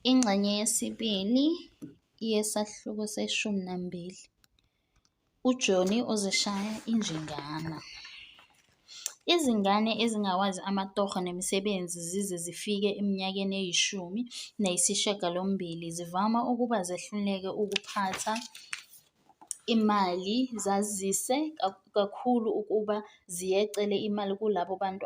Ingxenye yesibili yesahluko seshumi nambili. UJoni uzishaya injingana. Izingane ezingawazi amatoho nemisebenzi zize zifike eminyakeni eyishumi nayisishiyagalombili zivama ukuba zehluleke ukuphatha imali zazise kakhulu ukuba ziyecele imali kulabo bantu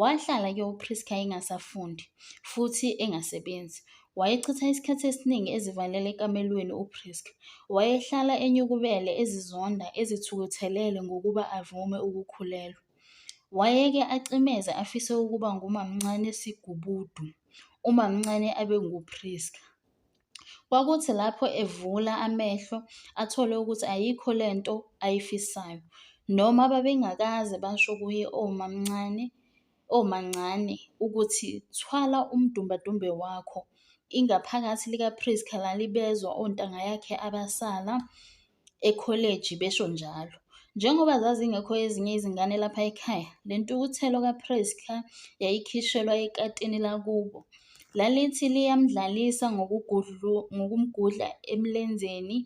Wahlala-ke uPrisca engasafundi futhi engasebenzi. Wayechitha isikhathi esiningi ezivalele ekamelweni uPrisca. Wayehlala enyukubele, ezizonda, ezithukuthelele ngokuba avume ukukhulelwa. Wayeke acimeze afise ukuba ngumamncane sigubudu, umamncane abe nguPrisca. Kwakuthi lapho evula amehlo athole ukuthi ayikho le nto ayifisayo. Noma babengakaze basho kuye omamncane, omancane ukuthi thwala umdumbadumbe wakho. Ingaphakathi lika-Prisca lalibezwa ontanga yakhe abasala. ekholeji, besho njalo. Njengoba zazingekho ezinye izingane lapha ekhaya, le ntukuthelo kaPrisca yayikhishelwa ekatini lakubo. Lalithi liyamdlalisa ngokumgudla emlenzeni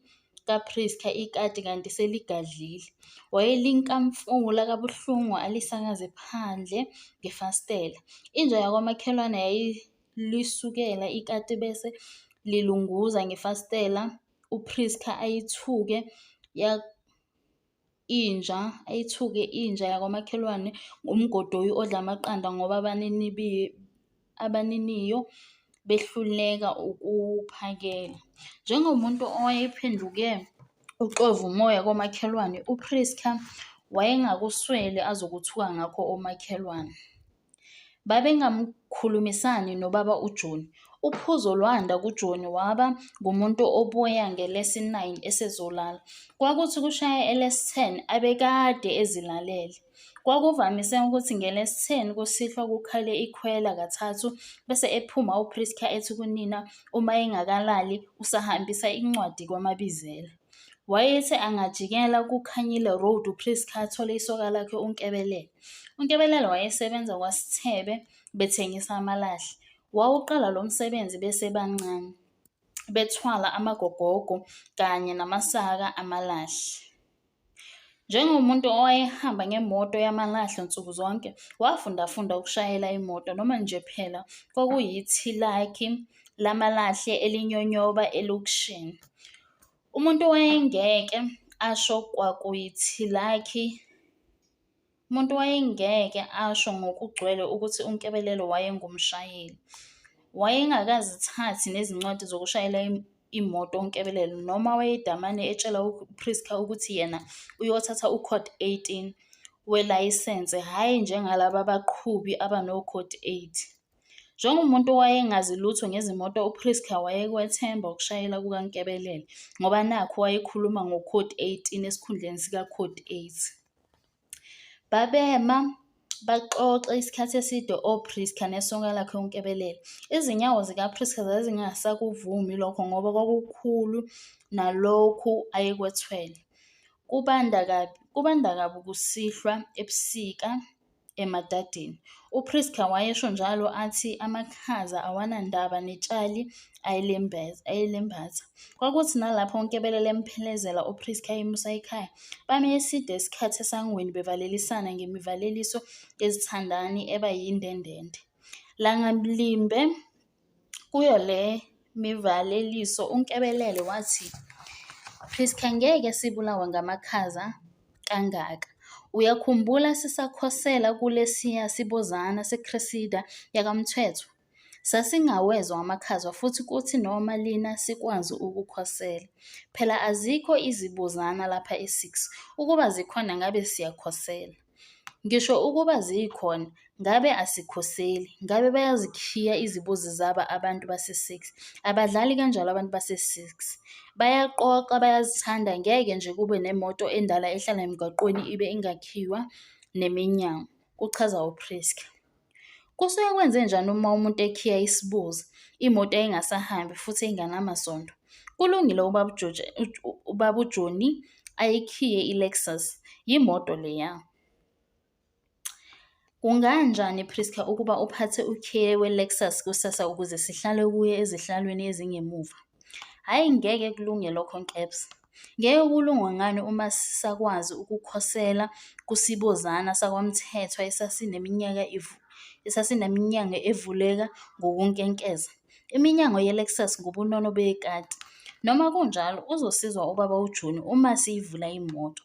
kaPrisca ikati kanti seligadlile. Wayelinkamfula kabuhlungu alisakaze phandle ngefastela. Inja yakwamakhelwane yayilisukela ikati bese lilunguza ngefastela uPrisca ayithuke ya inja ayithuke inja yakwamakhelwane ngomgodoyi odla amaqanda ngoba abaniniyo behluleka ukuphakela. Njengomuntu owayephenduke uxova umoya komakhelwane, uPrisca wayengakuswele azokuthuka ngakho omakhelwane. Babengamkhulumisani nobaba uJoni. Uphuzo lwanda kuJoni waba ngumuntu obuya ngelesi-9 esezolala. Kwakuthi kushaya elesi-10 abekade ezilalele. Kwakuvamise ukuthi ngelesi-10 kusihlwa kukhale ikhwela kathathu bese ephuma uPrisca ethi kunina uma engakalali usahambisa incwadi kwaMabizela. Wayethe angajikela kuKhanyile Road uPriska athole isoka lakhe uNkebelele. UNkebelele wayesebenza kwaSithebe bethengisa amalahle. Wawuqala lo msebenzi besebancane, bethwala amagogogo kanye namasaka amalahle. Njengomuntu owayehamba ngemoto yamalahle nsuku zonke, wafundafunda ukushayela imoto noma nje phela kwakuyithilakhi lamalahle elinyonyoba elokishini. Umuntu wayengeke asho kwakuyithilakhi umuntu wayengeke asho ngokugcwele ukuthi uNkebelelo wayengumshayeli. Wayengakazithathi nezincwadi zokushayela imoto uNkebelelo noma wayedamane etshela uPrisca ukuthi yena uyothatha uCode 18 welayisense, hhayi njengalaba baqhubi abanoCode 8. Njengomuntu owayengazi lutho ngezimoto uPrisca wayekwethemba ukushayela kukaNkebelele ngoba nakhu wayekhuluma ngokhodi 18 esikhundleni sikakhodi 8. Babema baxoxe isikhathi eside oPrisca nesonka lakhe uNkebelele. Izinyawo zikaPrisca zazingasakuvumi lokho ngoba kwakukhulu nalokhu ayekwethwele. Kubanda kabi, kubanda kabi kusihlwa ebusika. emadadeni. UPrisca wayesho njalo athi amakhaza awanandaba netshali ayelembatha. Kwakuthi nalapho uNkebelele emphelezela uPrisca emusa ekhaya, bame eside isikhathi esangweni bevalelisana ngemivaleliso yezithandani eba yindendende. Langalimbe Kuyo le mivaleliso uNkebelele wathi, Prisca ngeke sibulawe ngamakhaza kangaka. Uyakhumbula sisakhosela kulesiya sibozana seCresida yakaMthethwa? Sasingawezwa amakhaza futhi kuthi noma lina sikwazi ukukhosela. Phela azikho izibozana lapha e-6. Ukuba zikhona ngabe siyakhosela. Ngisho ukuba zikhona, ngabe asikhoseli. Ngabe bayazikhiya izibuzi zabo abantu base-six. Abadlali kanjalo abantu base-six. Bayaqoqa, bayazithanda, ngeke nje kube nemoto endala ehlala emgaqweni ibe ingakhiwa neminyango, kuchaza uPriska. Kusuke kwenzenjani uma umuntu ekhiya isibuzi, imoto yayingasahambi futhi inganamasondo? Kulungile ubaba uJoji, ubaba uJoni ayikhiye iLexus, yimoto leya. Kunganjani Prisca ukuba uphathe ukhiye weLexus kusasa ukuze sihlale kuye ezihlalweni ezingemuva? Hhayi ngeke kulunge lokho Nkebs. Ngeke kulungwe ngani uma sisakwazi ukukhosela kusibozana sakwaMthethwa esasineminyaka esasineminyanga evuleka ngokunkenkeza? Iminyango yeLexus ngubunono bekati. Noma kunjalo, uzosizwa ubaba uJoni uma siyivula imoto.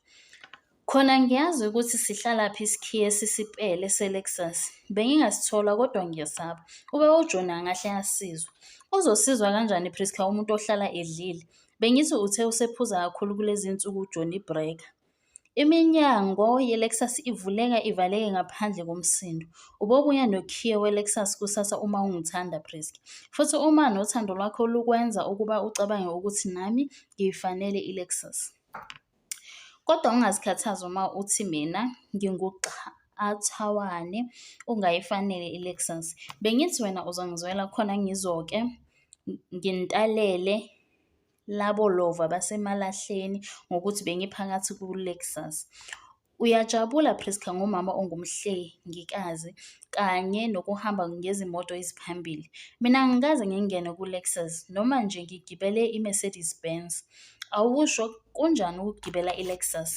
Khona ngiyazi ukuthi sihlalaphi isikhiye esisipele se-Lexus. Bengingasithola kodwa ngiyesaba. Ubaba uJoni angahle asizwe. Uzosizwa kanjani Prisca umuntu ohlala edlile? Bengithi uthe usephuza kakhulu kulezi nsuku uJoni ibhreka. Iminyango ye-Lexus ivuleka ivaleke ngaphandle komsindo. Ubobuya nokhiye we-Lexus kusasa uma ungithanda Prisca. Futhi uma nothando lwakho lukwenza ukuba ucabange ukuthi nami ngiyifanele i-Lexus. Kodwa ungazikhathazi uma uthi mina nginguxathawane ungayifanele iLexus. Bengithi wena uzongizwela khona ngizoke ngintalele labo lova basemalahleni ngokuthi bengiphakathi kuLexus. Uyajabula Prisca ngomama ongumhlengikazi kanye nokuhamba ngezimoto eziphambili. Mina angikaze ngingene ku-Lexus noma nje ngigibele i-Mercedes Benz. Awusho kunjani ukugibela i-Lexus?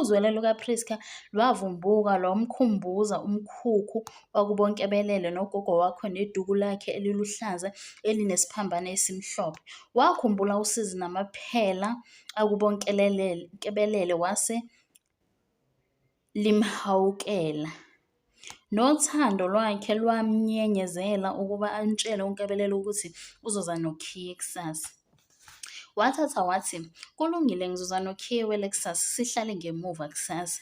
Uzwelo lukaPrisca lwavumbuka lwamkhumbuza umkhukhu wakubonkebelele nogogo wakhe neduku lakhe eliluhlaza elinesiphambane esimhlophe. Wakhumbula usizi namaphela akubonkelelele wase limhawukela. Nothando lwakhe lwamnyenyezela ukuba amtshele uNkabelelo ukuthi uzoza nokhiye kusasa. Wathatha wathi, kulungile ngizoza nokhiye weLexus sihlale ngemuva kusasa.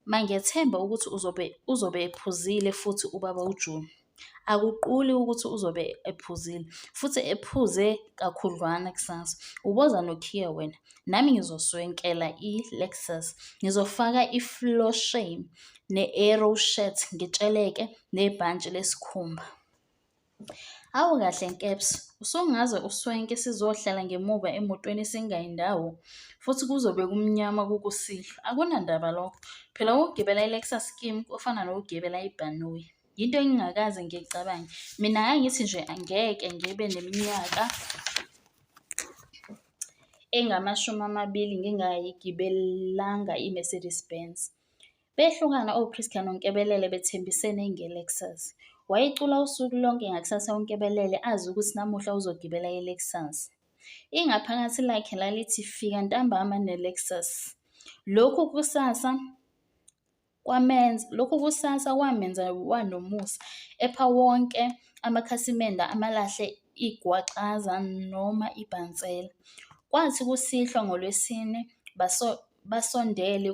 Mangethemba ukuthi uzobe uzobe ephuzile futhi ubaba uJoni. akuquli ukuthi uzobe ephuzile futhi ephuze kakhudlwana kusasa uboza nokhiya wena nami ngizoswenkela i-lexus ngizofaka i-floor shame ne-arrow shirt ngitsheleke nebhantshi lesikhumba awu kahle nkeps usungaze uswenke sizohlala ngemuva emotweni singayi ndawo futhi kuzobe kumnyama kukusihlwa akunandaba lokho phela ukugibela i-lexus kim kufana nokugibela ibhanoyi yinto engingakaze ngiyicabange mina ngangithi nje angeke ngibe neminyaka engamashumi amabili ngingayigibelanga i-mercedes benz behlukana ochristian nonkebelele bethembisene ngelexus wayecula usuku lonke ngakusasa unkebelele azi ukuthi namuhla uzogibela ilexus ingaphakathi lakhe lalithi fika ntambama nelexus lokhu kusasa kwamenza lokho kusasa kwamenza wanomusa epha wonke amakhasimende amalahle igwaxaza noma ibhansela. Kwathi kusihlwa ngoLwesine baso basondele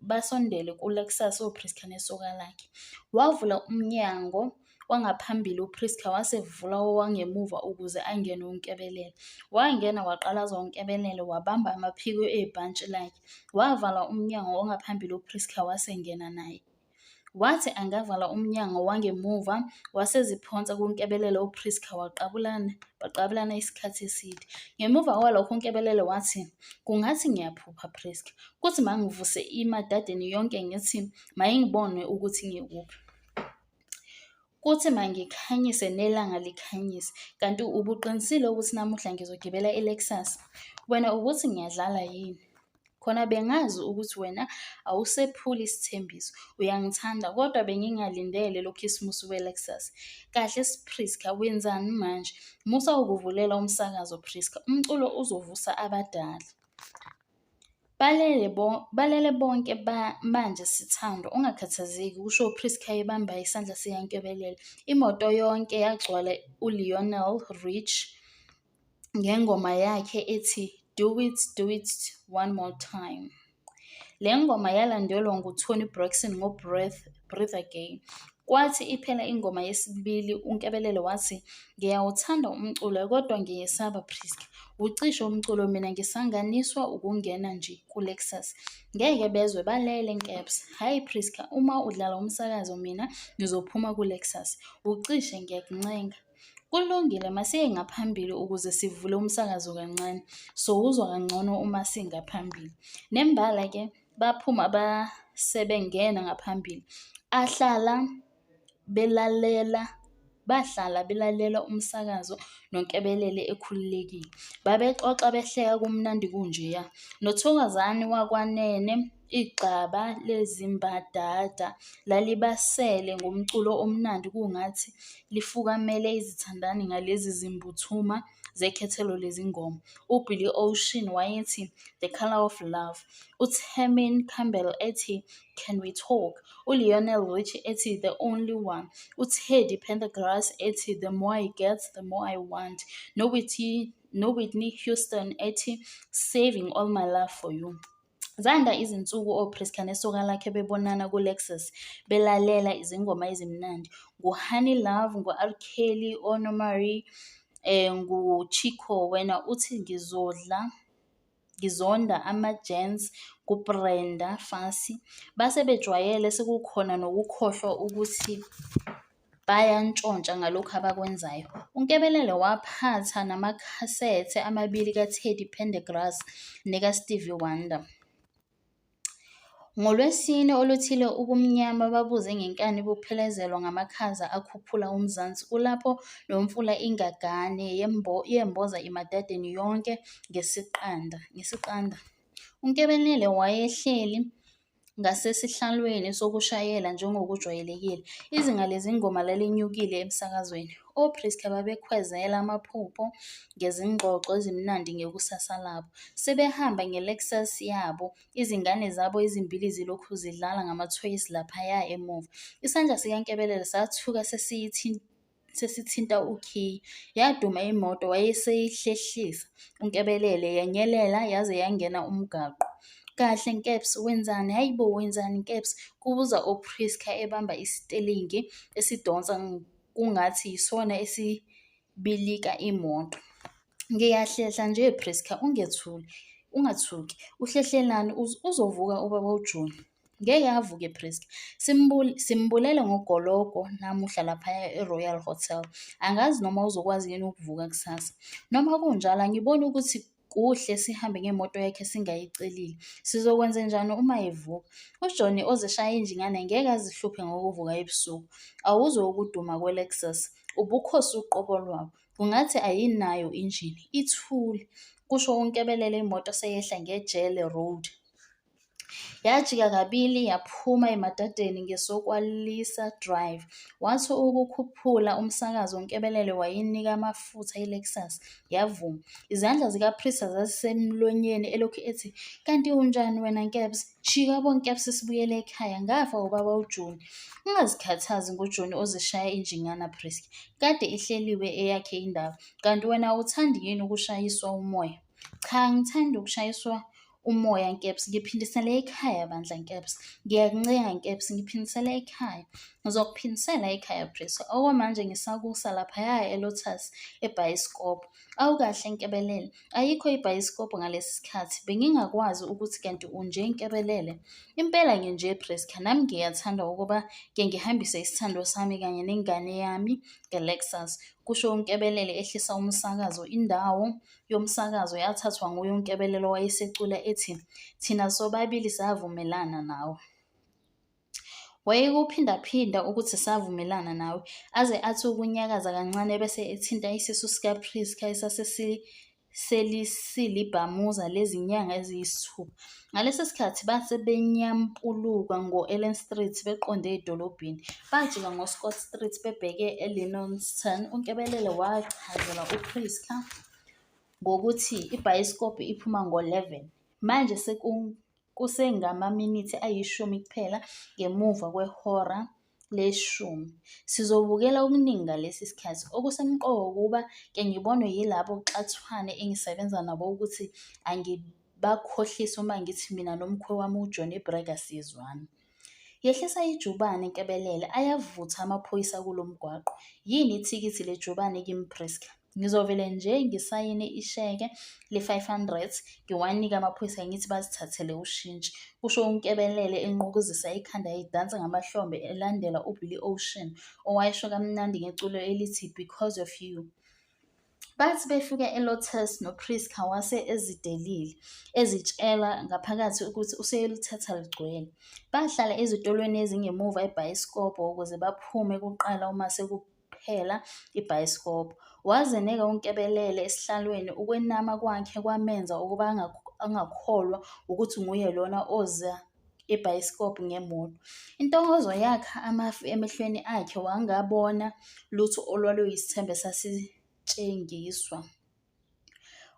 basondele kuLexus oPriska nesoka lakhe. Wavula umnyango Wangaphambili uPrisca wasevula owangemuva ukuze angene uNkebelela. Wangena waqalaza uNkebelela wabamba amaphiko ebhantshi lakhe. Wavala umnyango ongaphambili uPrisca wasengena naye. Wathi angavala umnyango wangemuva waseziphonsa kuNkebelela uPrisca waqabulana baqabulana isikhathi eside. Ngemuva kwalokho uNkebelela wathi kungathi ngiyaphupha Prisca. Kuthi mangivuse imadadeni yonke ngithi mayingibone ukuthi ngikuphi. Kuthi mangikhanyise nelanga likhanyise, kanti ubuqinisile ukuthi namuhla ngizogibela i-Lexus? Wena ubuthi ngiyadlala yini? Khona bengazi ukuthi wena awusephuli isithembiso, uyangithanda kodwa bengingalindele lo khisimusi we-Lexus. Kahle Priska, wenzani manje? Musa ukuvulela umsakazo Priska, umculo uzovusa abadala. Balele, bo, balele bonke ba, manje sithando, ungakhathazeki, kusho uPrisca ebamba isandla sikankebelela. Imoto yonke yagcwala uLionel Rich ngengoma yakhe ethi Do It, Do It One More Time. Le ngoma yalandelwa nguToni Braxton ngoBreath, Breathe Again. Kwathi iphela ingoma yesibili uNkebelelo wathi ngiyawuthanda umculo kodwa ngiyesaba Prisca. Ucishe umculo mina ngisanganiswa ukungena nje kuLexus. Ngeke bezwe balele Nkeps. Hhayi Prisca uma udlala umsakazo mina ngizophuma kuLexus. Ucishe ngiyakuncenga. Kulungile masiye ngaphambili ukuze sivule umsakazo kancane. Sowuzwa kangcono uma singaphambili. Nembala ke baphuma abasebengena ngaphambili ahlala belalela bahlala belalela umsakazo noNkebelele ekhululekile. Babexoxa behleka kumnandi kunjeya. Nothokozani wakwanene igxaba lezimbadada lalibasele ngomculo omnandi kungathi lifukamele izithandani ngalezi zimbuthuma zekhethelo lezingoma, uBilly Ocean wayethi The Colour of Love, uTermin Campbell ethi Can We Talk, uLionel Richie ethi The Only One, uTeddy Pendergrass ethi The More I Get, The More I Want, noWhitney Houston ethi Saving All My Love For You. Zanda izinsuku oPriscilla nesoka lakhe bebonana kuLexus, belalela izingoma ezimnandi nguHoney Love, ngu-R Kelly, oNomarie, eh, nguChico. Wena uthi ngizodla, ngizonda ama-gents kuBrenda Fassie. Base bejwayele sekukhona nokukhohlwa ukuthi bayantshontsha ngalokhu abakwenzayo. UNkebelele waphatha namakhasethe amabili kaTeddy Pendergrass nekaStevie Wonder. NgoLwesine oluthile ubumnyama babuze ngenkani buphelezelwa ngamakhaza akhuphula uMzansi kulapho nomfula ingagane yembo, yemboza imadadeni yonke ngesiqanda ngesiqanda. UNkebelele wayehleli ngasesihlalweni sokushayela njengokujwayelekile. Izinga lezingoma lalinyukile emsakazweni. OPriska babekhwezela amaphupho ngezingxoxo ezimnandi ngekusasa labo. Sebehamba ngeLexus yabo, izingane zabo ezimbili zilokhu zidlala ngamathoyisi laphaya emuva. Isandla sikaNkebelele sathuka sesiyithinta sesithinta ukhiye yaduma imoto wayeseyihlehlisa unkebelele yanyelela yaze yangena umgaqo kahle nkeps wenzani hayi bo wenzani nkeps kubuza upriska ebamba isitelingi esidonsa kungathi yisona esibilika imoto Ngiyahlehla nje Prisca ungethuli ungathuki. Uhlehlelani uzovuka ubaba uJoni. Ngeke avuke Prisca. Simbule simbulele ngogologo namuhla laphaya eRoyal Hotel. Angazi noma uzokwazi yini ukuvuka kusasa. Noma kunjalo angiboni ukuthi kuhle sihambe ngemoto yakhe singayicelile. Sizokwenze njani uma evuka? UJohnny ozishaya injingane ngeke azihluphe ngokuvuka ebusuku. Awuzwe ukuduma kweLexus. Ubukhosi uqobo lwabo. Ungathi ayinayo injini, ithule, kusho uNkebelele imoto seyehla ngejele road. Yajika kabili yaphuma emadadeni ngesokwalisa drive. Wathi ukukhuphula umsakazo uNkebelele wayinika amafutha iLexus yavuma. Izandla zikaPrista zazisemlonyeni elokhu ethi, kanti unjani wena Nkebs? Shika bonke abuse sibuyele ekhaya. Ngafa ubaba uJoni. Ungazikhathazi ngoJoni ozishaya injingana Prisca. Kade ihleliwe eyakhe indawo. Kanti wena awuthandi yini ukushayiswa umoya? Cha ngithanda ukushayiswa umoya Nkeps. Ngiphindisele ekhaya bandla Nkeps. Ngiyakuncenga Nkeps ngiphindisele ekhaya. Ngizokuphindisela ekhaya Prisca. Okwamanje ngisakusa laphaya eLotus ebhayisikobho. Awu kahle Nkebelele, ayikho ibhayisikobho ngalesi sikhathi, bengingakwazi ukuthi kanti unje Nkebelele. Impela nginje Prisca, nami ngiyathanda ukuba ke ngihambise isithando sami kanye nengane yami ngeLexus, kusho uNkebelele ehlisa umsakazo. Indawo yomsakazo yathathwa nguye uNkebelele owayesecula ethi, Thina sobabili savumelana nawe. Wayekuphindaphinda ukuthi savumelana nawe, aze athi ukunyakaza kancane bese ethinta isisu sikaPrisca esasiselisiliibhamuza lezinyanga eziyisithupha. Ngalesi sikhathi base benyampuluka ngo-Ellen Street beqonde edolobheni. Bajika ngoScott Street bebheke eLinonston. UNkebelele wachazela uPrisca ngokuthi ibhayisikobho iphuma ngo-11. Manje Kusengamaminithi ayishumi kuphela ngemuva kwehora leshumi. Sizobukela okuningi ngalesi sikhathi. Okusemqoka ukuba ke ngibonwe yilabo xathwane engisebenza nabo ukuthi angibakhohlisi uma ngithi mina nomkhwe wami uJohnny Brega sizwana. Yehlisa ijubane Nkebelele ayavutha amaphoyisa kulo mgwaqo. Yini ithikithi lejubane kimi Prisca? Ngizovele nje ngisayine isheke le-500 ngiwanike amaphoyisa ngithi bazithathele ushintshi, kusho uNkebelele enqukuzisa ikhanda edansa ngamahlombe elandela uBilly Ocean owayesho kamnandi ngeculo elithi Because of You. Bathi befika eLotus noPrisca wase ezidelile, ezitshela ngaphakathi ukuthi useyolithatha ligcwele. Bahlala ezitolweni ezingemuva ebhayisikobho ukuze baphume kuqala uma sekuphela ibhayisikobho. Wazeneka uNkebelele esihlalweni, ukwenama kwakhe kwamenza ukuba angakholwa ukuthi nguye lona oza ibhayisikobhu ngemoto. Intokozo yakha amafu emehlweni akhe wangabona lutho olwaluyisithembe sasitshengiswa.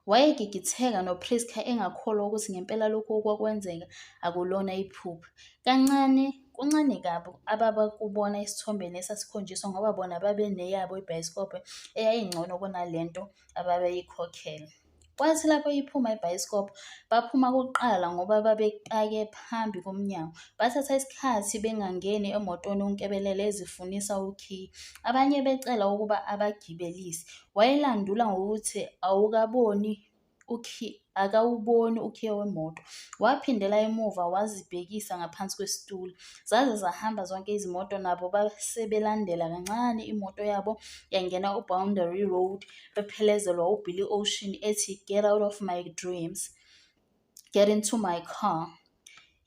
Wayegigitheka noPrisca engakholwa ukuthi ngempela lokhu okwakwenzeka akulona iphupho. Kancane kuncane kabi ababakubona esithombeni esasikhonjiswa ngoba bona babeneyabo ibhayisikobho eyayingcono kunalento ababeyikhokhela. Kwathi lapho iphuma ibhayisikobho, baphuma kuqala ngoba babepake phambi komnyango. Bathatha isikhathi bengangeni emotweni uNkebelele ezifunisa ukhiye. Abanye becela ukuba abagibelise. Wayelandula ngokuthi awukaboni ukhiye akawuboni ukhiye wemoto. Waphindela emuva wazibhekisa ngaphansi kwesitulo. Zaze zahamba zonke izimoto nabo basebelandela kancane imoto yabo yangena uBoundary Road ephelezelwa uBillie Ocean ethi Get Out of My Dreams, Get Into My Car.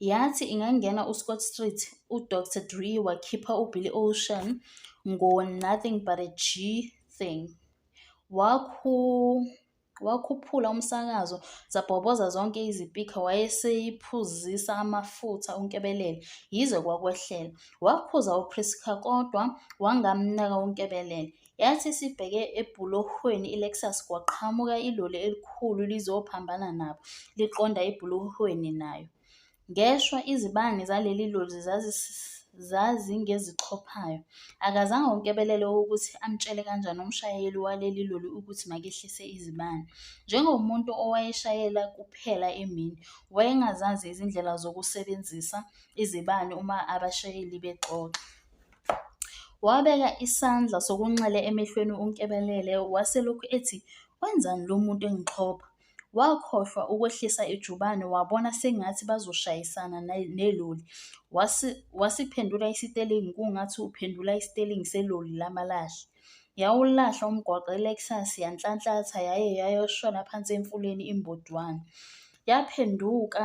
Yathi ingangena uScott Street, uDr Dre wakhipha uBillie Ocean ngo-Nothing But a G Thing. Wakhu wakhuphula umsakazo zabhoboza zonke izipikha wayeseyiphuzisa amafutha uNkebelele yize kwakwehlela. Wakhuza uPrisca kodwa wangamnaka uNkebelele. Yathi isibheke ebhulohweni iLexus kwaqhamuka iloli elikhulu lizophambana nabo, liqonda ebhulohweni nayo. Ngeshwa izibani zaleli loli zazingezixhophayo. Akazange uNkebelele ukuthi amtshele kanjani umshayeli waleli loli ukuthi makehlise izibani. Njengomuntu owayeshayela kuphela emini, wayengazazi izindlela zokusebenzisa izibani uma abashayeli bexoxa. Wabeka isandla sokunxele emehlweni uNkebelele waselokhu ethi wenzani lo muntu engixhopha. Wakhohlwa ukwehlisa ijubane wabona sengathi bazoshayisana neloli. Wasiphendula isitelingi kungathi uphendula isitelingi seloli lamalahle. Yawulahla umgwaqo iLexus yanhlanhlatha yaye yayoshona phansi emfuleni imbodwana. Yaphenduka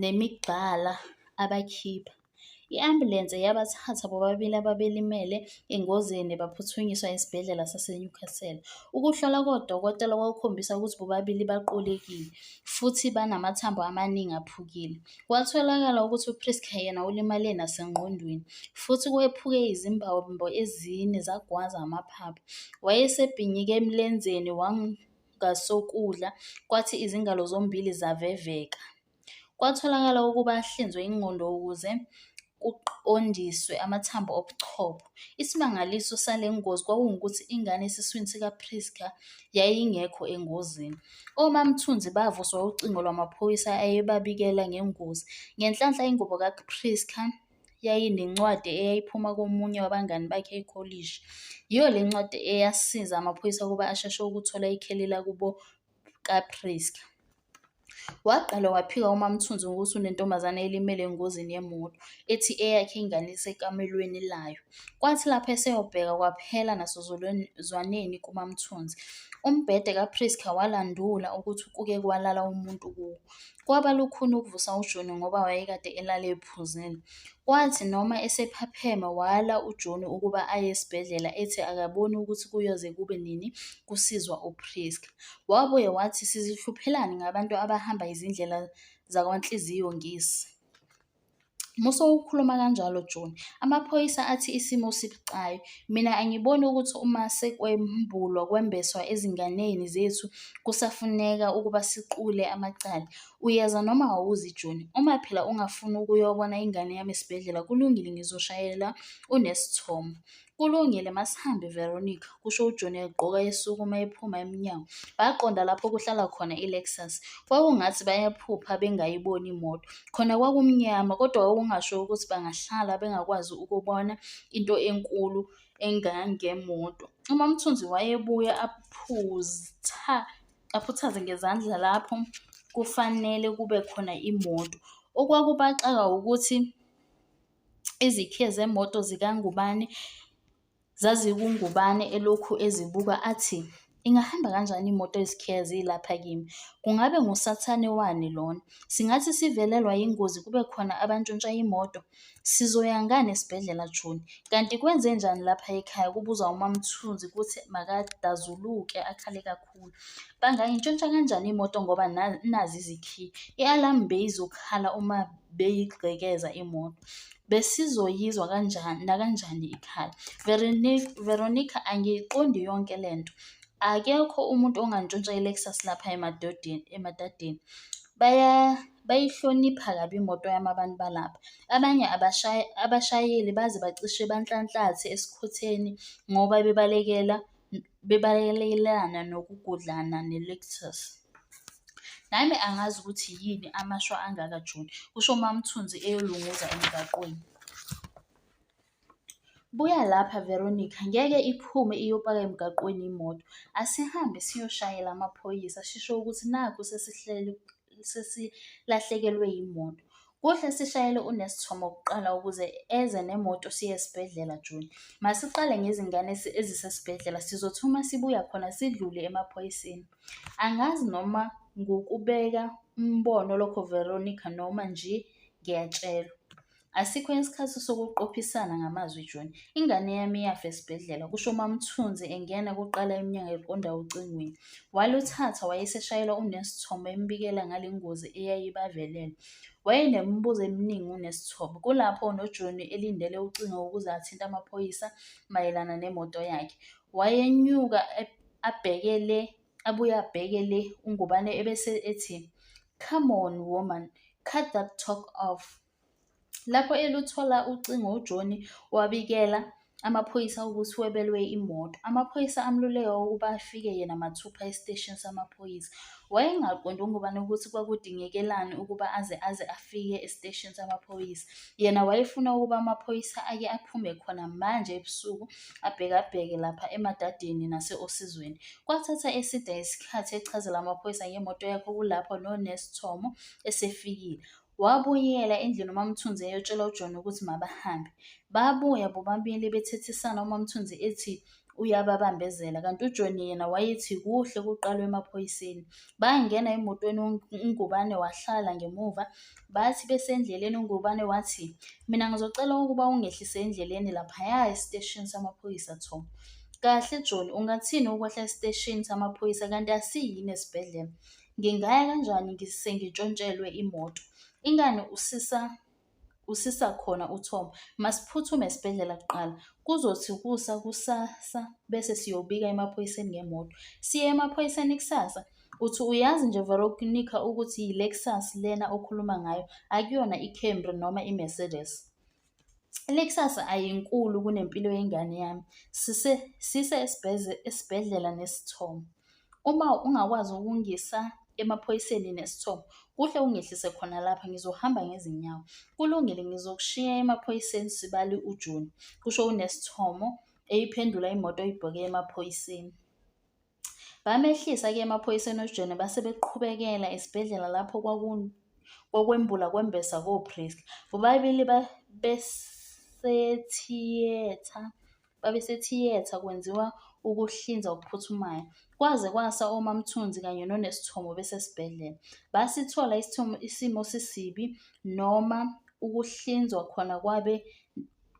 nemigqala abakhipha. I-ambulense yabathatha bobabili ababelimele engozini baphuthunyiswa esibhedlela saseNewcastle. Ukuhlola kodokotela kwakukhombisa ukuthi bobabili baqulekile futhi banamathambo amaningi aphukile. Kwatholakala ukuthi uPrisca yena ulimale nasengqondweni futhi kwephuke izimbambo ezine zagwaza amaphaphu. Wayesebhinyike emlenzeni ngasokudla, kwathi izingalo zombili zaveveka. Kwatholakala ukuba ahlinzwe ingqondo ukuze kuqondiswe amathambo obuchopho. Isimangaliso sale ngozi kwakungukuthi ingane esiswini sikaPrisca yayingekho engozini. OMaMthunzi bavuswa ucingo lwamaphoyisa ayebabikela ngengozi. Ngenhlanhla ingubo kaPrisca yayinencwadi eyayiphuma komunye wabangani bakhe ekholishi. Yiyo le ncwadi eyasiza amaphoyisa ukuba asheshe ukuthola ikheli lakubo kaPriska. Waqala waphika uMaMthunzi ngokuthi unentombazane elimele engozini yemoto, ethi eyakhe ingane isekamelweni layo. Kwathi lapho eseyobheka kwaphela nasozwaneni kuMaMthunzi. Umbhede kaPriska walandula ukuthi kuke kwalala umuntu kuwo. Kwaba lukhuni ukuvusa uJoni ngoba wayekade elale ephuzile. Kwathi noma esephapheme wala uJoni ukuba aye esibhedlela ethi akaboni ukuthi kuyoze kube nini kusizwa uPrisca. Wabuye wathi sizihluphelani ngabantu abahamba izindlela zakwanhliziyo ngisi. Musowukhuluma kanjalo Joni. Amaphoyisa athi isimo sibucayi. Mina angiboni ukuthi uma sekwembulwa kwembeswa ezinganeni zethu kusafuneka ukuba siqule amacala. Uyeza noma awuzi Joni. Uma phela ungafuni ukuyobona ingane yami esibhedlela kulungile ngizoshayela uNesithomo. Kulungile, masihambe, Veronica, kusho uJohn egqoka esukuma ephuma emnyango. Baqonda lapho kuhlala khona iLexus. Kwakungathi bayaphupha bengayiboni imoto. Khona kwakumnyama, kodwa kwakungasho ukuthi bangahlala bengakwazi ukubona into enkulu engangemoto. UMaMthunzi wayebuya aphutha aphuthaze ngezandla lapho kufanele kube khona imoto. Okwakubaxaka ukuthi Izikhiye zemoto zikaNgubane zazikuNgubane elokhu ezibuka athi, Ingahamba kanjani imoto ezikhiye zilapha kimi? Kungabe ngusathane wani lona? Singathi sivelelwa yingozi kube khona abantshontsha imoto? Sizoya ngani esibhedlela Joni? Kanti kwenzenjani lapha ekhaya? Kubuza uMaMthunzi kuthi makadazuluke akhale kakhulu. kakhulu banga ngintshontsha kanjani imoto ngoba nazi izikhiye i-alarm beyizokhala uma beyigqekeza imoto besizoyizwa kanjani nakanjani ikhala veronica angiyiqondi yonke le nto akekho umuntu ongantshontsha i-lexus lapha emadadeni baya bayihlonipha kabi imoto yami abantu balapha abanye abashayeli baze bacishe banhlanhlathe esikhotheni ngoba bebalekela bebalekelekelana nokugudlana ne-Lexus. Nami angazi ukuthi yini amashwa angaka June, kusho uMaMthunzi eyolunguza emgaqweni. Buya lapha Veronica, ngeke iphume iyopaka emgaqweni imoto. Asihambe siyoshayela amaphoyisa, sisho ukuthi nakhu sesihlele sesilahlekelwe yimoto. Kuhle sishayele uNesithomo kuqala ukuze eze nemoto siye esibhedlela Juni. Masiqale ngezingane ezisesibhedlela sizothi uma sibuya khona sidlule emaphoyiseni. Angazi noma ngukubeka umbono lokho Veronica noma nje ngiyatshelwa. Asikho isikhathi sokuqophisana ngamazwi John. Ingane yami iyafa esibhedlela, kusho uMaMthunzi engena kuqala emnyango eqonda ocingweni. Waluthatha wayeseshayela uNesithomo embikela ngale ngozi eyayibavelele. Wayenemibuzo eminingi uNesithomo. Kulapho noJohn elindele ucingo ukuze athinte amaphoyisa mayelana nemoto yakhe. Wayenyuka abhekele abuye abhekele uNgubane ebese ethi, Come on woman, cut that talk off. Lapho eluthola ucingo uJohnny wabikela amaphoyisa ukuthi webelwe imoto. Amaphoyisa amluleka ukuba afike yena mathupha esiteshini samaphoyisa. Wayengaqondi uNgubane ukuthi kwakudingekelani ukuba aze aze afike esiteshini samaphoyisa. Yena wayefuna ukuba amaphoyisa ake aphume khona manje ebusuku abhekabheke lapha emadadeni nase-osizweni. Kwathatha eside isikhathi echazela amaphoyisa ngemoto yakhe kulapho noNesi Thomo esefikile. Wabuyela endlini uMaMthunzi eyotshela uJohn ukuthi mabahambe. Babuya bobabili bethethisana uMaMthunzi ethi uyababambezela kanti uJohn yena wayethi kuhle kuqalwe emaphoyiseni. Bangena emotweni uNgubane wahlala ngemuva bathi besendleleni uNgubane wathi mina ngizocela ukuba ungehlise endleleni laphaya esiteshini samaphoyisa Thoma. Kahle John, ungathini ukwehla esiteshini samaphoyisa kanti asiyini esibhedlela? Ngingaya kanjani sengitshontshelwe imoto? Ingani usisa usisa khona uThoma. Masiphuthume esibhedlela kuqala. Kuzothi kusa kusasa bese siyobika emaphoyiseni ngemoto. Siye emaphoyiseni kusasa. Uthi uyazi nje Veronica ukuthi yiLexus lena okhuluma ngayo, akuyona iCamry noma iMercedes. Le kusasa ayinkulu kunempilo yengane yami. Sise sise esibhedlela nesithomo. Uma ungakwazi ukungisa emaphoyiseni nesithomo, kuhle ungehlise khona lapha ngizohamba ngezinyawo. Kulungile ngizokushiya emaphoyiseni sibali uJuni, kusho uNesithomo eyiphendula imoto ibhoke emaphoyiseni. Bamehlisa ke emaphoyiseni oJone base beqhubekela esibhedlela lapho kwakwembula kwembesa koPriska. Bobabili babesethiyetha babesethiyetha kwenziwa ukuhlinza okuphuthumayo. Kwaze kwasa oMamthunzi kanye noNesithomo besesibhedlela. Basithola isithomo isimo sisibi noma ukuhlinzwa khona kwabe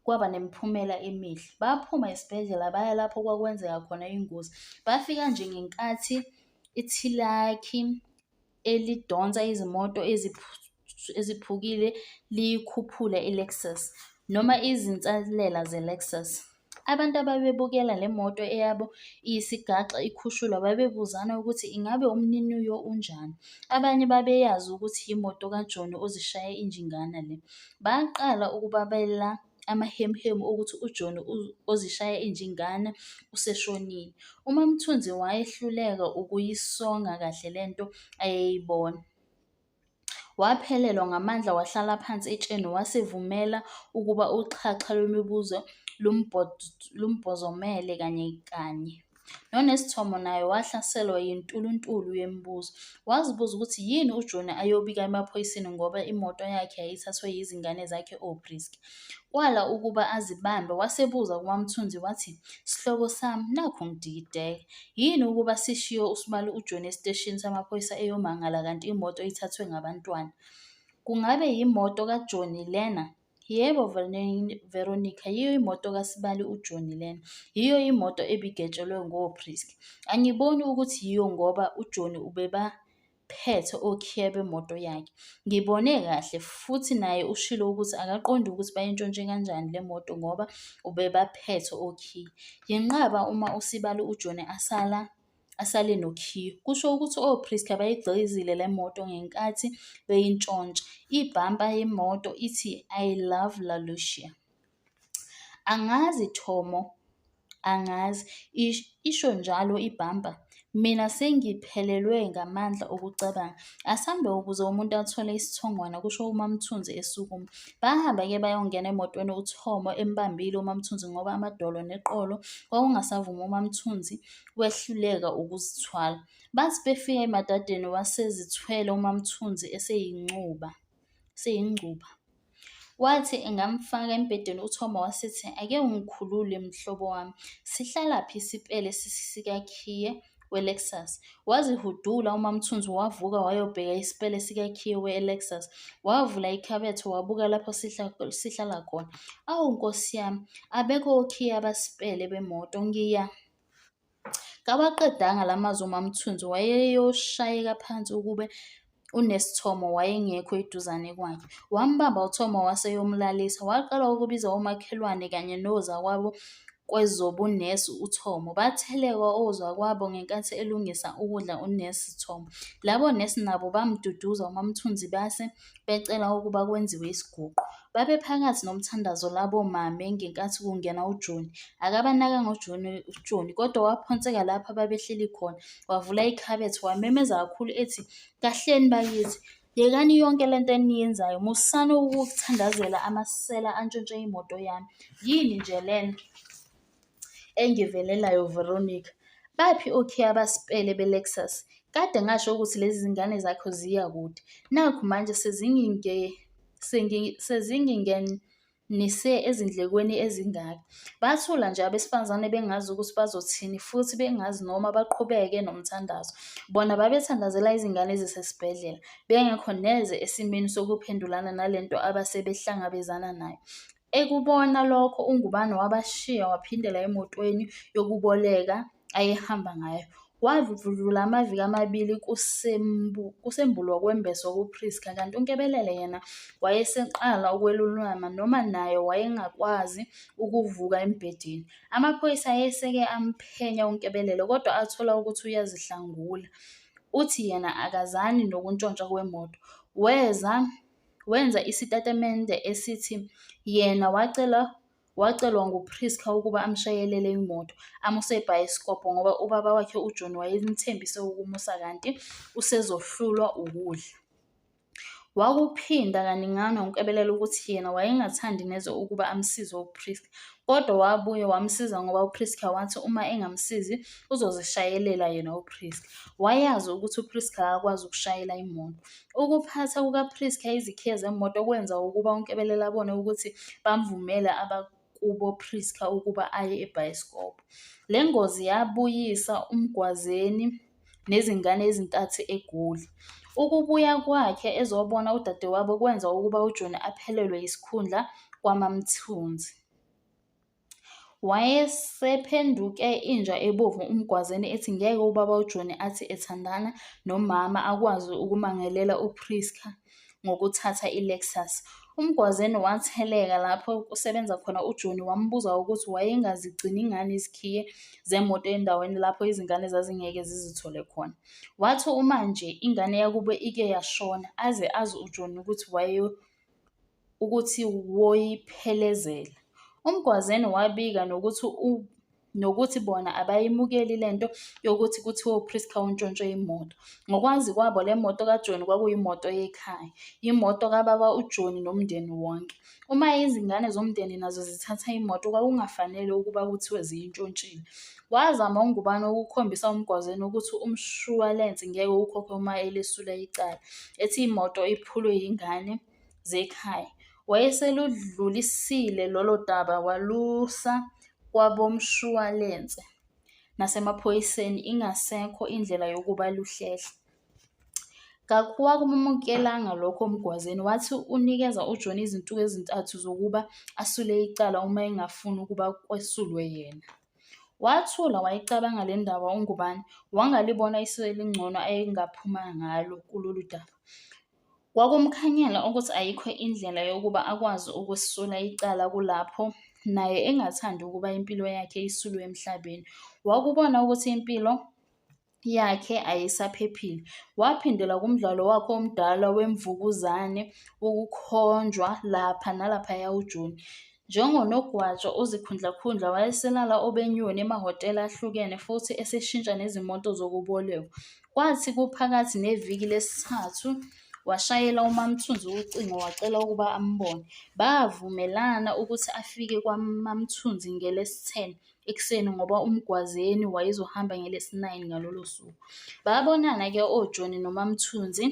kwaba nemiphumela emihle. Baphuma esibhedlela baya lapho kwakwenzeka khona ingozi. Bafika nje ngenkathi ithilakhi elidonsa izimoto eziphukile liyikhuphula i-Lexus noma izinsalela ze-Lexus. Abantu ababebukela le moto eyabo iyisigaxa ikhushulwa babebuzana ukuthi ingabe umniniyo unjani. Abanye babeyazi ukuthi yimoto kajoni ozishaye injingana le. Baqala ukubabela amahemuhemu okuthi uJohn ozishaya injingana useshonile. UMaMthunzi wayehluleka ukuyisonga kahle le nto ayeyibona. Waphelelwa ngamandla wahlala phansi etsheni wasivumela ukuba uxhaxha lwemibuzo lumbhozomele kanye kanye. Nonesithomo naye wahlaselwa yintuluntulu yemibuzo. Wazibuza ukuthi yini uJoni ayobika emaphoyiseni ngoba imoto yakhe yayithathwe yizingane zakhe oBriski. Kwala ukuba azibambe, wasebuza kuMaMthunzi wathi, Sihlobo sami, nakhu ngidikideka. Yini ukuba sishiye usibali uJoni esiteshini samaphoyisa eyomangala kanti imoto ithathwe ngabantwana? Kungabe yimoto kaJoni lena? Yebo Veronica, yiyo imoto kaSibali uJoni lena. Yiyo imoto ebigetshelwe ngoPrisk. Angiboni ukuthi yiyo ngoba uJoni ubebaphethe okhiye bemoto yakhe. Ngibone kahle futhi naye ushilo ukuthi akaqondi ukuthi bayintshontshe kanjani le moto ngoba ubebaphethe okhiye. Yenqaba uma uSibali uJoni asala asale nokhiye. Kusho ukuthi ophristi bayigqizile le moto ngenkathi beyintshontsha. Ibhampa yemoto ithi I love La Lucia. Angazi Thomo, angazi. Isho njalo ibhampa. Mina sengiphelelwe ngamandla okucabanga. Asambe ukuze umuntu athole isithongwana, kusho uMaMthunzi esukuma. Bahambe-ke bayongena emotweni uThomo embambile uMaMthunzi ngoba amadolo neqolo kwakungasavumi uMaMthunzi wehluleka ukuzithwala. Bathi befika emadadeni wasezithwele uMaMthunzi eseyincuba seyingcuba. Wathi engamfaka embhedeni uThoma wasithi ake ungikhulule mhlobo wami. Sihlalaphi isipele sikakhiye we-Lexus. Wazihudula uMaMthunzi wavuka wayobheka isipele sikakhiye we-Lexus. Wavula ikhabethe wabuka lapho sihlala khona. Awu nkosi yami, abekho okhiye abasipele bemoto ngiya Kawaqedanga la mazwi uMaMthunzi wayeyoshayeka phansi ukube unesithomo wayengekho eduzane kwakhe. Wambamba uThomo waseyomlalisa. Waqala ukubiza omakhelwane kanye nozakwabo kwezobunesi uThomo. Batheleka ozakwabo ngenkathi elungisa ukudla unesi Thomo. Labo nesi nabo bamduduza uMaMthunzi base becela ukuba kwenziwe isiguqo. Babephakathi nomthandazo labo mame ngenkathi kungena uJoni. Akabanaka ngoJoni uJoni kodwa waphonseka lapha babehleli khona. Wavula ikhabethe wamemeza kakhulu ethi, "Kahleni bakithi, yekani yonke le nto eniyenzayo. Musani ukuthandazela amasela antshontshe imoto yami. Yini nje lena?" Engivelelayo Veronica, Baphi okhiye abasipele beLexus? Kade ngasho ukuthi lezi zingane zakho ziya kude. Nakhu manje sezinginge sezingingenise ezindlekweni ezingaka. Bathula nje abesifazane bengazi ukuthi bazothini futhi bengazi noma baqhubeke nomthandazo. Bona babethandazela izingane ezisesibhedlela, bengekho neze esimeni sokuphendulana nalento abasebehlangabezana nayo. Ekubona lokho uNgubane wabashiya waphindela emotweni yokuboleka ayehamba ngayo. Wadlula amaviki amabili kusembulwa kwembeswa kuPrisca kanti uNkebelele yena wayeseqala ukwelulama noma naye wayengakwazi ukuvuka embhedeni. Amaphoyisa ayeseke amphenya uNkebelele kodwa athola ukuthi uyazihlangula. Uthi yena akazani nokuntshontsha kwemoto. Weza wenza isitatimende esithi yena wacela wacelwa nguPriska ukuba amshayelele imoto amuse ebhayisikobho ngoba ubaba wakhe uJohn wayemthembise ukumusa kanti usezohlulwa ukudla. Wakuphinda kaningana uNkebelela ukuthi yena wayengathandi neze ukuba amsize uPriska kodwa wabuye wamsiza ngoba uPriska wathi uma engamsizi uzozishayelela yena uPriska. Wayazi ukuthi uPriska akakwazi ukushayela imoto Ukuphatha kukaPriska izikhiye zemoto kwenza ukuba uNkebelela abone ukuthi bamvumele abakubo Priska ukuba aye ebhayisikobho. Le ngozi yabuyisa uMgwazeni nezingane ezintathu eGoli. Ukubuya kwakhe ezobona udadewabo kwenza ukuba uJoni aphelelwe yisikhundla kwaMaMthunzi. Wayesephenduke inja ebovu uMgwazeni ethi ngeke ubaba uJoni athi ethandana nomama akwazi ukumangelela uPrisca ngokuthatha iLexus. UMgwazeni watheleka lapho kusebenza khona uJoni wambuza ukuthi wayengazigcini ngani izikhiye zemoto endaweni lapho izingane zazingeke zizithole khona. Wathi uma nje ingane yakubo ike yashona aze azi uJoni ukuthi wayeyo ukuthi woyiphelezela. UMgwazeni wabika nokuthi u nokuthi bona abayimukeli le nto yokuthi kuthiwe uPrisca untshontshe imoto. Ngokwazi kwabo le moto kaJoni kwakuyimoto yekhaya, yimoto kababa uJoni nomndeni wonke. Uma izingane zomndeni nazo zithatha imoto kwakungafanele ukuba kuthiwe ziyintshontshile. Wazama uNgubane ukukhombisa uMgwazeni ukuthi umshuwalense ngeke ukhokhe uma elesula icala, ethi imoto iphulwe yingane zekhaya. Wayeseludlulisile lolo daba walusa kwabomshuwalense nasemaphoyiseni ingasekho indlela yokuba luhlehle. Kakuwamukelanga lokho Mgwazeni, wathi unikeza uJohn izinsuku ezintathu zokuba asule icala uma engafuni ukuba kwesulwe yena. Wathula wayicabanga le ndaba uNgubane, wangalibona isu elingcono ayengaphuma ngalo kulolu daba. Kwakumkhanyela ukuthi ayikho indlela yokuba akwazi ukusula icala kulapho naye engathandi ukuba impilo yakhe isulwe emhlabeni. Wakubona ukuthi impilo yakhe ayisaphephile. Waphindela kumdlalo wakhe omdala wemvukuzane, ukukhonjwa lapha nalaphaya ujuni. Njengonogwaja ozikhundlakhundla wayeselala obenyoni emahhotela ahlukene futhi eseshintsha nezimoto zokubolekwa. Kwathi kuphakathi neviki lesithathu washayela uMaMthunzi ucingo wacela ukuba ambone. Bavumelana ukuthi afike kwaMaMthunzi ngelesi-10 ekuseni ngoba uMgwazeni wayezohamba ngelesi-9 ngalolo suku. Babonana-ke oJoni noMaMthunzi.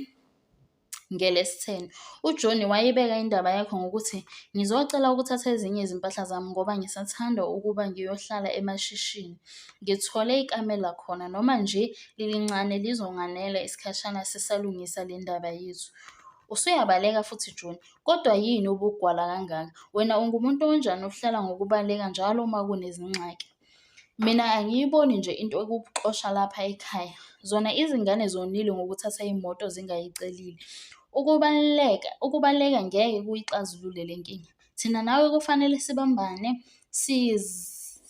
NgeLesitheni, uJohnny wayibeka indaba yakhe ngokuthi, Ngizocela ukuthatha ezinye izimpahla zami ngoba ngisathanda ukuba ngiyohlala emashishini. Ngithole ikamela khona, noma nje lilincane lizonganela isikhashana sisalungisa le ndaba yethu. Usuyabaleka futhi Johnny, kodwa yini ubugwala kangaka? Wena ungumuntu onjani ohlala ngokubaleka njalo uma kunezingxaki? Mina angiyiboni nje into ekukuxosha lapha ekhaya. Zona izingane zonile ngokuthatha imoto zingayicelile. Ukubaluleka, ukubaleka ngeke kuyixazulule le nkinga. Thina nawe kufanele sibambane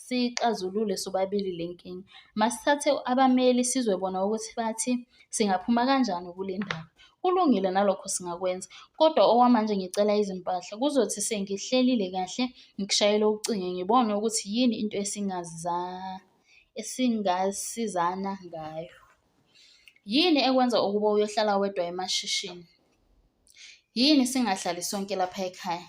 siyixazulule sobabili le nkinga. Masithathe abameli sizwe bona ukuthi bathi. Singaphuma kanjani kule ndaba? Kulungile nalokho singakwenza, kodwa okwamanje ngicela izimpahla. Kuzothi sengihlelile kahle ngikushayele ucinge ngibone ukuthi yini into esingaza esingasizana ngayo. Yini ekwenza ukuba uyohlala wedwa emashishini? Yini singahlali sonke lapha ekhaya?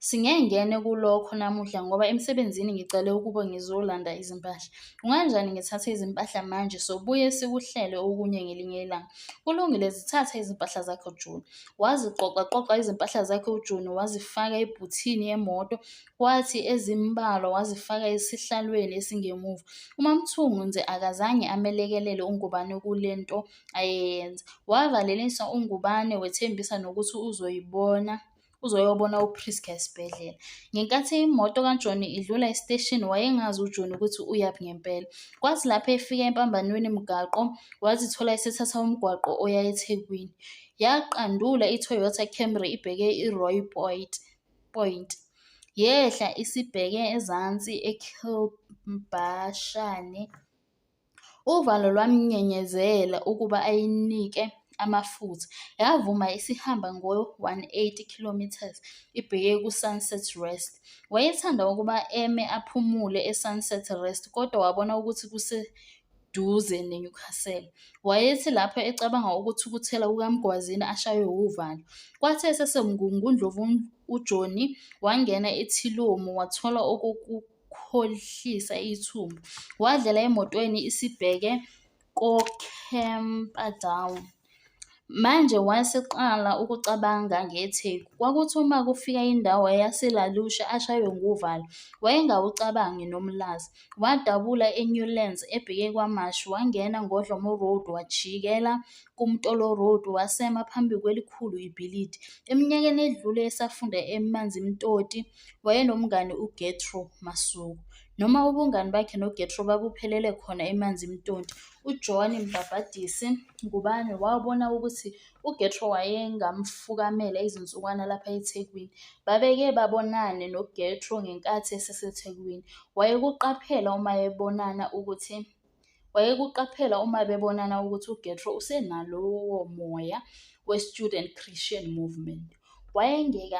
Singengene kulokho namuhla ngoba emsebenzini ngicele ukuba ngizolanda izimpahla. Kunganjani ngithathe izimpahla manje sobuye sikuhlele okunye ngelinye ilanga? Kulungile, zithathe izimpahla zakho Juni. Waziqoqaqoqa izimpahla zakhe uJuni wazifaka ebhuthini yemoto, kwathi ezimbalwa wazifaka esihlalweni esingemuva. UMaMthungu nje akazange amelekelele uNgubane kule nto ayeyenza. Wavalelisa uNgubane wethembisa nokuthi uzoyibona uzoyobona uPrisca esibhedlela. Ngenkathi imoto kaJoni idlula esiteshini wayengazi uJoni ukuthi uyaphi ngempela. Kwathi lapho efika empambanweni mgaqo wazithola esethatha umgwaqo oya eThekwini. Yaqandula iToyota Camry ibheke iRoy Point. Point. Yehla isibheke ezansi eKhilbashane. Uvalo lwamnyenyezela ukuba ayinike amafutha, yavuma isihamba ngo-180 kilometres ibheke ku-Sunset Rest. Wayethanda ukuba eme aphumule e-Sunset Rest kodwa wabona ukuthi kuseduze ne-Newcastle. Wayethi lapho ecabanga ukuthukuthela kukaMgwazini ashaywe wuvalo. Kwathi esesemgungundlovuni uJohnny wangena ethilomu wathola okokuqala. ukukhohlisa ithumbu. Wadlela emotweni isibheke koCamperdown. Manje waseqala ukucabanga ngeTheku. Kwakuthi uma kufika indawo yaseLalusha ashaywe nguvalo. Wayengawucabangi nomlazi. Wadabula eNewlands ebheke kwaMashi, wangena ngoDlomo Road, wajikela kuMtolo Road, wasema phambi kwelikhulu ibhilidi. Eminyakeni edlule esafunda eManzimtoti, Wayenomngani uGetro Masuku. Noma ubungani bakhe noGetro babuphelele khona emanzi mtonti, uJohn Mbhabhadisi Ngubane wabona ukuthi uGetro wayengamfukamela izinsukwana lapha eThekwini. Babeke babonane noGetro ngenkathi eseseThekwini. Wayekuqaphela uma ebonana ukuthi Wayekuqaphela uma bebonana ukuthi uGetro usenalowo moya we-student Christian movement. Wayengeke